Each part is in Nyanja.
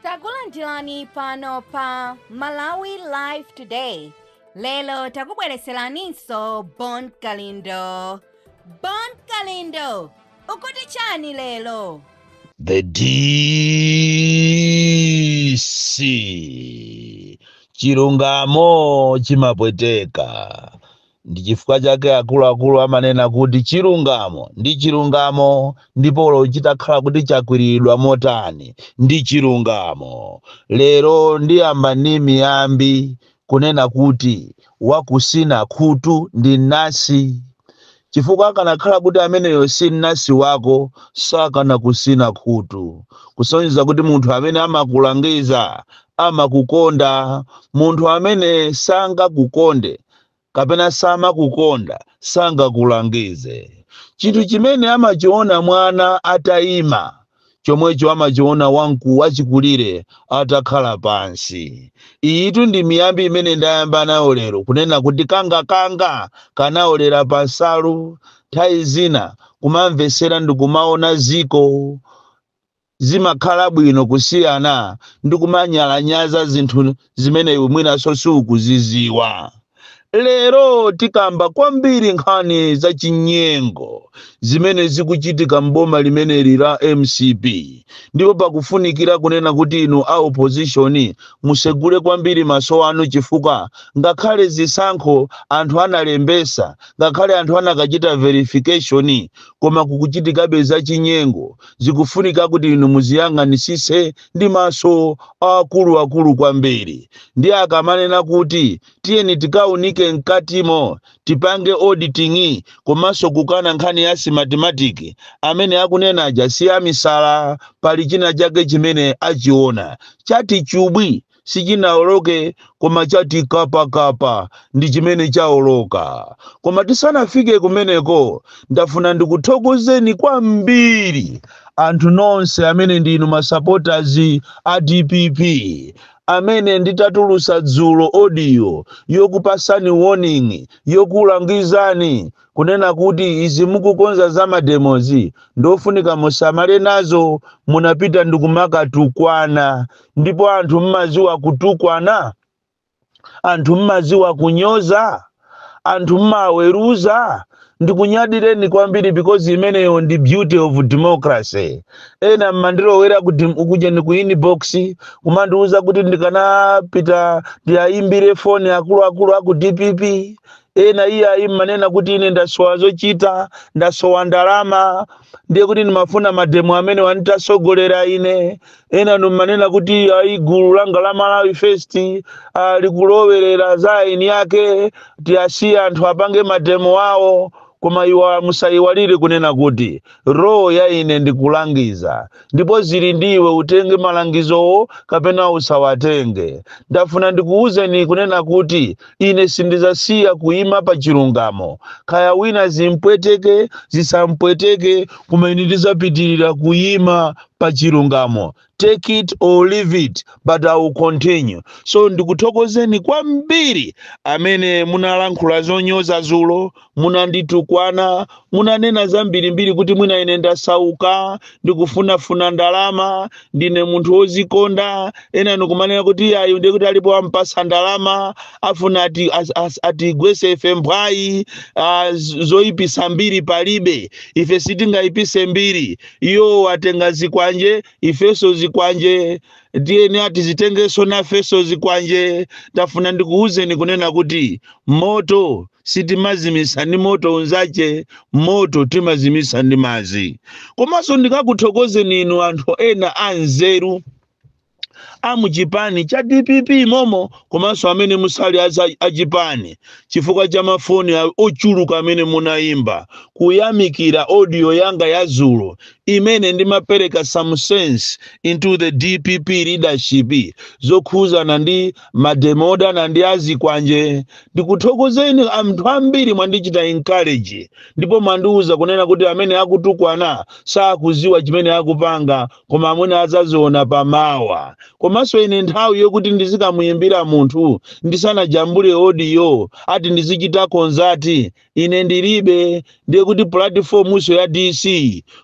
takulandirani pano pa malawi live today lero takubwereseraninso bon kalindo bon kalindo ukuti chani lero The DC chilungamo chimapweteka Ndi chifukwa chake akuluakulu amanena kuti chilungamo ndi chilungamo, ndipo olo chitakhala kuti chakwiriridwa motani, ndi chilungamo. Lero ndiyamba ndi miyambi kunena kuti wakusina khutu ndi mnasi, chifukwa akanakhala kuti ameneyo si mnasi wako sakanakusina khutu, kusonyeza kuti munthu amene amakulangiza amakukonda. Munthu amene sangakukonde kapena samakukonda, sangakulangize. Chinthu chimene amachiona mwana ataima, chomwecho amachiona wamku wachikulire atakhala pansi. Iyitu ndi miyambi imene ndayamba nayo lero, kunena kuti kangakanga kanaolera pansalu. Nthawi zina kumamvesera ndi kumaona ziko Zimakhala bwino kusiyana ndi kumanyalanyaza zinthu zimene iwe mwinanso sukuziziwa. Lero tikamba kwambiri nkhani zachinyengo zimene zikuchitika m'boma limeneli la mcp ndipo pakufunikira kunena kuti inu a opposition musegule kwambiri maso anu chifukwa ngakhale zisankho anthu analembesa, ngakhale anthu anakachita verification koma kukuchitikabe zachinyengo. zikufunika kuti inu muziyang'anisise ndi maso akuluakulu kwambiri ndi akamanena kuti tiyeni tikaunike mkatimo tipange auditing komanso kukana nkhani ya smartmatic amene akunena aja si amisala pali china chake chimene achiona chati chubwi sichinaoloke koma chati kapakapa ndi chimene chaoloka koma tisanafike kumeneko ndafuna ndikuthokozeni kwambiri anthu nonse amene ndinu masapotazi a dpp amene nditatulusa dzulo audio yokupasani warning yokulangizani kunena kuti izi mukukonza za mademozi ndofunika musamale nazo munapita ndikumakatukwana ndipo anthu mmaziwa kutukwana anthu mmaziwa kunyoza anthu mmaweruza ndikunyadireni kwambiri because imeneyo ndi beauty of democracy ena mmandilowera ku ujeni ku inbox kumandiuza kuti ndikanapita ndiayimbire foni akuluakulu aku dpp Ena iyayi munanena kuti ine ndasowa zochita, ndasowa ndalama, ndiye kuti ndimafuna mademo amenewa nditsogolere ine. Enanu munanena kuti ayi gulu langa la Malawi First ah, likulowerera za aeni ake, tiyasiye anthu apange mademo awo. Koma musayiwale kunena kuti role ya ine ndikulangiza, ndipo zili ndi iwe utenge malangizowo kapena usawatenge. Ndafuna ndikuwuzeni kunena kuti ine sindizasiya kuyima pa chilungamo kaya wina zimpweteke zisampweteke koma ine ndizapitirira kuyima pa chilungamo take it or leave it but i will continue so ndikuthokozeni kwambiri amene munalankhula zonyoza zulo munanditukwana munanena zambirimbiri kuti mwina ine ndasauka ndikufunafuna ndalama ndine munthu wozikonda ena nikumanena kuti ayi ndiye kuti alipo ampasa ndalama afuna ati- as- as- atigwese ife mphwayi ah, z- zoyipisa mbiri palibe ife sitingayipise mbiri iwo atenga zikwanje ifeso zikwanje tiyeni tizitengeso nafeso zikwanje ndafuna ndikuwuzeni kunena kuti moto sitimazimisa ndi moto unzache moto timazimisa ndi mazi komanso ndikakuthokozeni inu anthu ena anzeru amuchipani cha dpp momo komanso amene musali aza- achipani chifukwa cha mafoni a- ochuluka amene munayimba kuyamikira audio yanga ya zulo imene ndimapereka some sense into the dpp leadership zokhuzana ndi mademo odana ndi azikwanje ndikuthokozeni anthu ambiri mwandichita encourage ndipo mwandiuza kunena kuti amene akutukwana sakuziwa chimene akupanga koma amene azaziona pamawa komanso ine nthawi yokuti ndizikamuyimbira munthu ndisanajambule odiyo ati ndizichita konsati ine ndilibe ndiye kuti pulatifomunso ya dc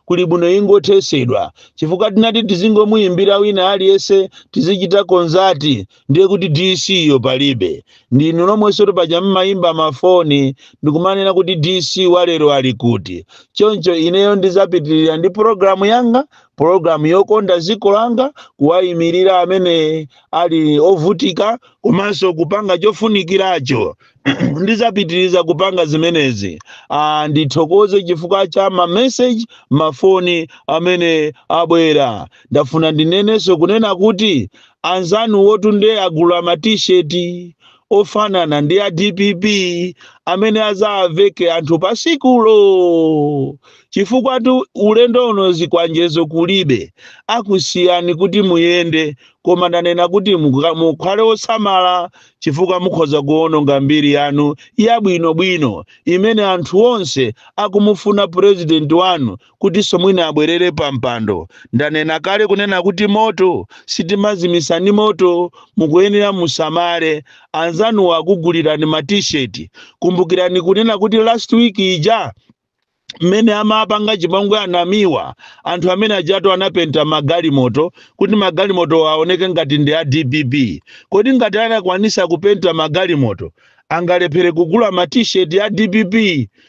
kuli bwino ingothesedwa chifukwa ngati tizingomuyimbira wina aliyense tizichita konsati ndiye kuti dc yo palibe ndinu nomwenso tu paja mmayimba mafoni ndikumanena kuti dc walero ali kuti choncho ineyo ndizapitirira ndi pologalamu yanga pologalamu yokonda dziko langa kuwayimirira amene ali ovutika komanso kupanga chofunikiracho ndizapitiriza kupanga zimenezi ah, ndithokoze chifukwa cha mameseji mafoni amene abwera ndafuna ndinenenso kunena kuti anzanu wotunde agula matisheti ofanana ndi a dpp amene azaveke anthu pasikulo chifukwa tu ulendo uno zikwanjezo kulibe akusiyani kuti muyende koma ndanena kuti muka- mukhale osamala chifukwa mukhoza kuwononga mbiri yanu yabwinobwino imene anthu onse akumufuna purezidenti wanu kutinso mwina abwerere pampando. Ndanena kale kunena kuti moto sitimazimitsa ndi moto. Mukuyenera musamale. Anzanuwo akugulirani ma T-shirt. Kumbukirani kunena kuti last week ija mmene amapanga chipongwe anamiwa anthu amene ajato anapenta magalimoto kuti magalimoto aoneke ngati ndi a dpp kodi ngati anakwanisa kupenta magalimoto angalephere kugula ma t-shirt ya dpp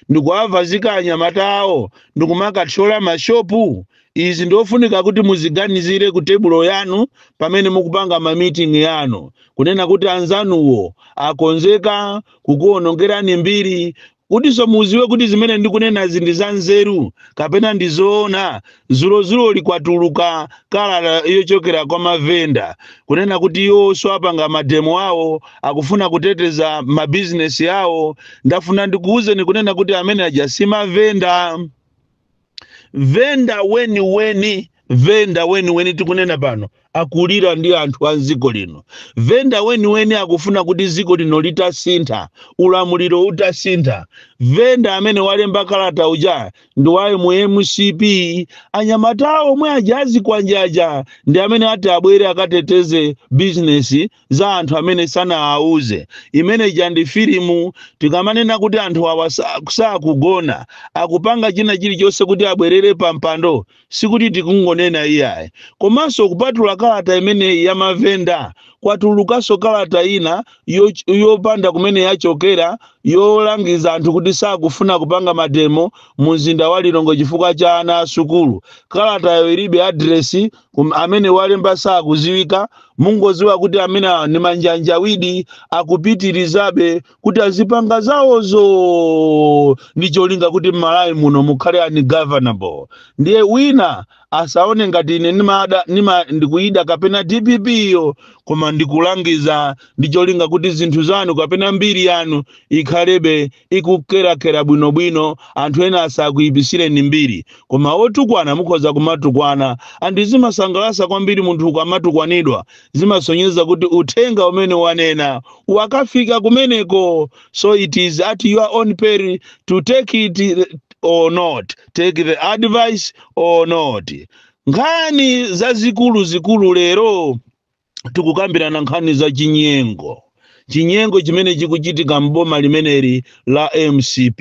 ndikuavazika anyamata awo ndikumakathyola mashopu izi ndiofunika kuti muziganizire ku tebulo yanu pamene mukupanga mamitingi yanu kunena kuti anzanuwo akonzeka kukuonongerani mbiri Kutinso mudziwe kuti zimene ndikunenazi ndi zanzeru kapena ndi zoona, zulozuloli kwatuluka kalata yochokera kwa mavenda kunena kuti iwonso apanga mademo awo, akufuna kuteteza mabizinesi awo. Ndafuna ndikuuzeni kunena kuti amene aja si mavenda. venda weniweni venda weniweni tikunena pano akulira ndi anthu a mdziko lino venda weniweni akufuna kuti dziko lino litasintha ulamuliro utasintha venda amene walemba kalata uja ndi wa yemu mcp anyamata omwe aja azikwanjaja ndi amene ati abwere akateteze bizinesi za anthu amene sanawauze imene ija ndi filimu tikamanena kuti anthu awa sakugona akupanga china chilichonse kuti abwerere pa mpando sikuti tikungonena iyayi komanso kupatula kalata imeneyi ya mavenda kwatulukanso kalata ina yopanda kumene yachokera yolangiza anthu kuti sakufuna kupanga mademo mu mzinda wa lilongwe chifukwa cha ana a sukulu kalatayo ilibe adiresi Koma amene walemba sakuziwika mungoziwa kuti amene awa ni manjanjawidi akupitirizabe kuti azipanga zawozo ndi cholinga kuti mmalawi muno mukhale ungovernable ndiye wina asaone ngati ine nimada nima ndikuida kapena dpp yo koma ndikulangiza ndi cholinga kuti zinthu zanu kapena mbiri yanu ikhalebe ikukwerakwera bwinobwino anthu ena asakuipisireni mbiri koma otukwana mukhoza kumatukwana and zimasangalasa kwambiri munthu ukamatukwanidwa zimasonyeza kuti uthenga umene wanena wakafika kumeneko so it is at your own peril to take it or not take the advice or not nkhani zazikuluzikulu lero tikukambirana nkhani za chinyengo chinyengo chimene chikuchitika m'boma limeneli la mcp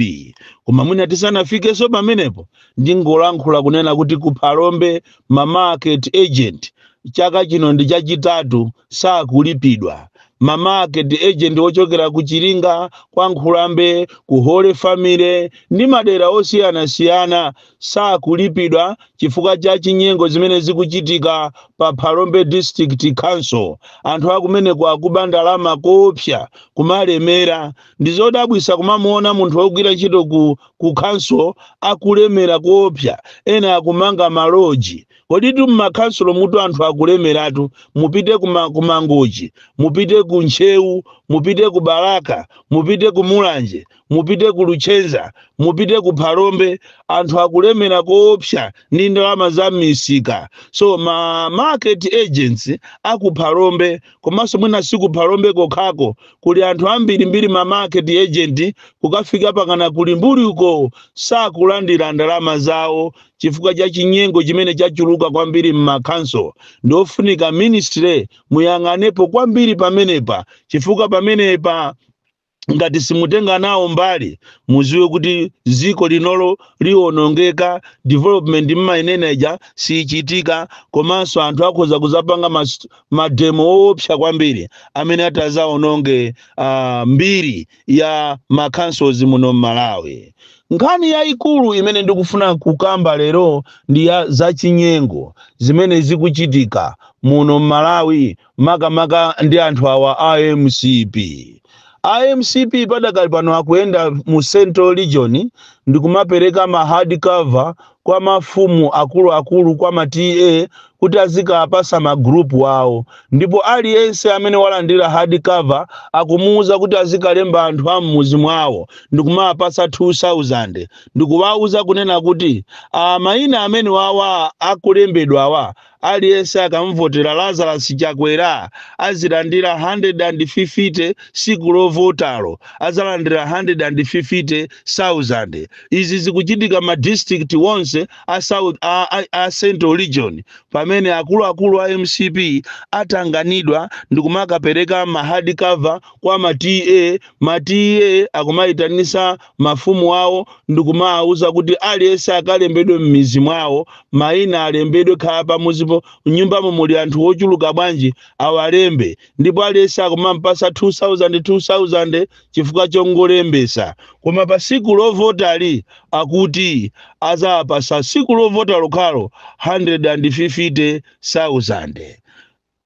koma mwina tisanafikenso pamenepo ndingolankhula kunena kuti ku phalombe ma market agent chaka chino ndi chachitatu sakulipidwa ma market agent ochokera ku chiringa kwa nkhulambe ku holy family ndi madera osiyanasiyana sakulipidwa chifukwa cha chinyengo zimene zikuchitika pa Phalombe District Council. Anthu akumeneko akuba ndalama koopsa kumalemera. Ndizodabwisa kumamuona munthu wogwira ntchito ku, ku council akulemera koopsa ena akumanga ma lodge. Koditu mmakhansulo mutu anthu akulemeratu mupite kuma, ku Mangochi, mupite ku Ntcheu, mupite ku Balaka, mupite ku Mulanje, mupite ku luchenza mupite ku phalombe anthu akulemera koopsa ndi ndalama za m'misika so ma market agents aku phalombe komanso mwina si ku phalombe kokhako kuli anthu ambirimbiri ma market agent kukafika mpakana ku Limbuli uko sakulandira ndalama zawo chifukwa cha chinyengo chimene chachuluka kwambiri m'makhanso ndi ofunika ministry muyang'anepo kwambiri pamenepa chifukwa pamenepa ngati simutenga nawo mbali muziwe kuti dziko linolo liwonongeka development mmainena ija siyichitika komanso anthu akhoza kuzapanga mademo owopsa kwambiri amene atazaononge uh, mbiri ya makhansos muno mmalawi nkhani yayikulu imene ndikufuna kukamba lero ndi ya zachinyengo zimene zikuchitika muno mmalawi makamaka ndi anthu awa a mcp a mcp padakali pano akuyenda mu central region ndikumapereka ma hard cover kwa mafumu akuluakulu kwa ma ta kuti azikapasa magrupu awo ndipo aliyense amene walandira hard cover akumuwuza kuti azikalemba anthu a mmuzi mwawo ndikumawapasa 2000 ndikuwawuza kunena kuti a mayina amene wawa akulembedwawa Aliyense akamuvotera Lazarus Chakwera azilandira 150 siku lovotalo azalandira 150,000. Izi zikuchitika ma district onse a central region pamene akuluakulu a mcp atanganidwa ndikumakapeleka ma hard cover kwa ma TA ma TA akumayitanisa mafumu awo ndi kumawawuza kuti aliyense akalembedwe m'mizi mwawo, mayina alembedwe, kaya pamuzipo m'nyumbamo muli anthu ochuluka bwanji awalembe ndipo aliyense akumamupatsa 2000 2000 chifukwa chongolembetsa. Koma pa tsiku lovotalo akuti adzawapatsa tsiku lovota lokhalo 150,000.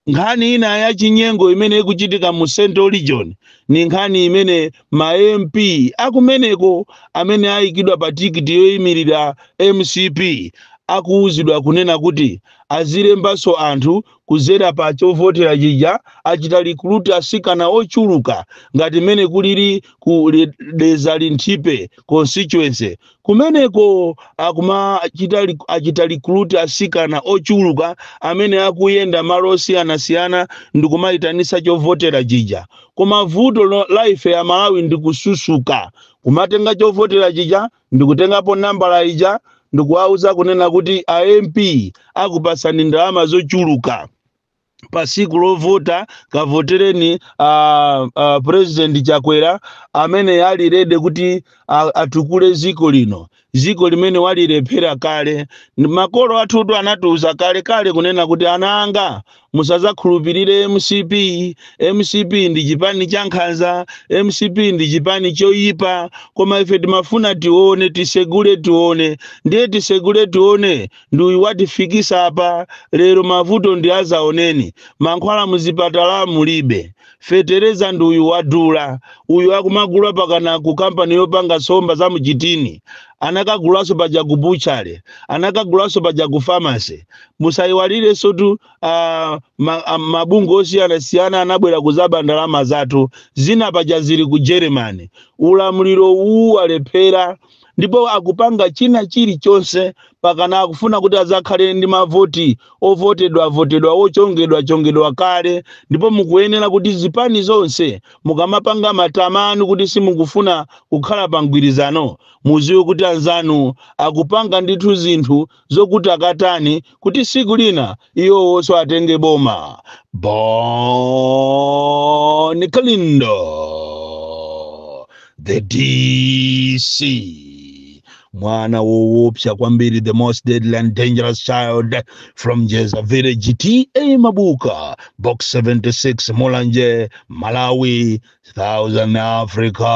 Nkhani ina ya chinyengo imene ikuchitika mu Central Region ni nkhani imene ma MP akumeneko amene ayikidwa pa tikiti yoimilira mcp akuuzidwa kunena kuti azilembanso anthu kuzera pa chovotera chija achita recruit asikana ochuluka ngati mmene kulili ku Dedza Linthipe Constituency kumeneko akumachita recruit asikana ochuluka amene akuyenda malo osiyanasiyana ndi kumayitanisa chovotera chija koma vuto la ife aMalawi ndi kususuka kumatenga chovotera chija ndi kutengapo nambala ija ndi kuwauza kunena kuti a mp akupasani ndalama zochuluka pa siku lovota kavotereni president chakwera amene ali rede kuti atukule ziko lino ziko limene walilephera kale makolo athutu anatiuza kale kale kunena kuti ana anga musazakhulupirire mcp mcp ndi chipani cha nkhanza mcp ndi chipani choyipa koma ife timafuna tione tisegule tione ndiye tisegule tione ndi uyu watifikisa apa lero mavuto ndi azaoneni mankhwala muzipatala mulibe fetereza ndi uyu wadula uyu akumagula pakana ku kampani yopanga somba za muchitini anakagulaso paja ku buchale anakagulaso paja ku famasi musayiwaliresotu ah, mabungwe osiyanasiyana anabwera kuzaba ndalama zathu zina paja zili ku germany ulamuliro uwu walephera ndipo akupanga china chirichonse pakana akufuna kuti azakhale ndi mavoti ovotedwa votedwa ochongedwa chongedwa kale ndipo mukuyenera kuti zipani zonse mukamapanga matama anu kuti simukufuna kukhala pa mgwirizano muziwe kuti anzanu akupanga ndithu zinthu zokuti akatani kuti siku lina iwowonso atenge boma bon kalindo the dc mwana wowopsa kwambiri the most deadly and dangerous child from jeza village ta mabuka box 76 mulanje malawi southern africa